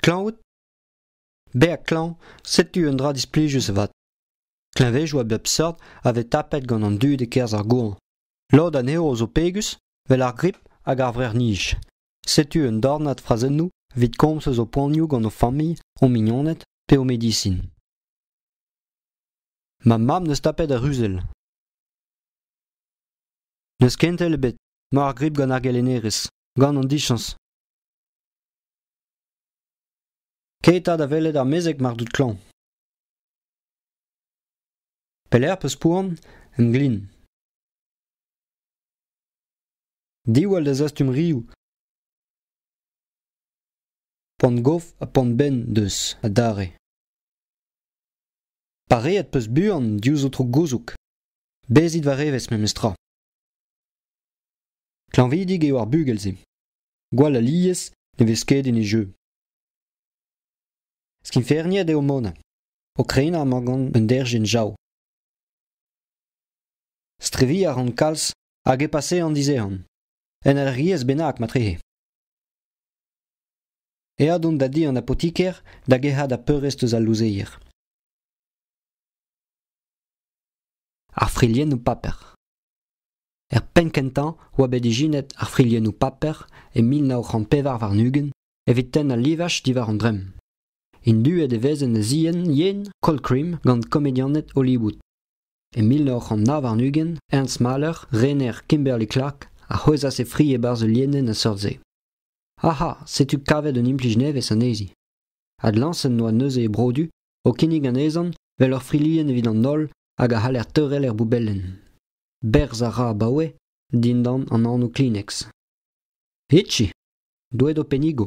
Klañved Berr klañv, setu un dra displijus avat. Kleñvezoù a bep seurt a vez tapet gant an dud e-kerzh ar goañv. Lod anezho zo pegus, 'vel ar grip hag ar vrec'h-nij. Setu un dornad frazennoù evit komz eus ho poanioù gant ho familh, ho mignoned pe ho medisin. Ma mab 'neus tapet ar ruzell. N'eus kentel ebet, 'mañ ar grip gant ar gelennerez, gant an dichañs. Ket 'ta da welet ar mezeg mar out klañv. Pelec'h 'peus poan? En glin. Diwall da zastum rioù. Poan-gof ha poan-benn deus adarre. Pareet 'peus buan diouzh ho tro gouzoug. Bezit war evezh memes tra. Klañvidik eo ar bugel-se. Gwall alies ne vez ket en e jeu. Skingferniet eo Mona, o krenañ amañ gant un derc'hen jav. Streviñ a ran kalz hag e pase an dizehan, un alc'hiez bennak matrehe. Eat on da di an apotiker da gerc'hat ar peurrest eus al louzeier. Ar friliennoù paper. Er penn-kentañ oa bet ijinet ar friliennoù paper e mil nav c'hant pevar warn-ugent evit tenn al livaj diwar an dremm. Induet e vez en e zienn yen Colcrim gant komedianed Hollywood. E mil nav c'hant nav warn-ugent, Ernst Mahler, rener Kimberly-Clark, a c'hwezhas e fri e-barzh ul lienenn a-seurt-se. Aha, setu kavet un implij nevez anezhi. Adlañset 'noa neuze e brodu o kinnig anezhan 'vel ur frilienn evit an holl hag a c'haller teurel er boubelenn. Berzh a ra abaoe dindan an anv Kleenex. Hitchi, doet ho pennigo.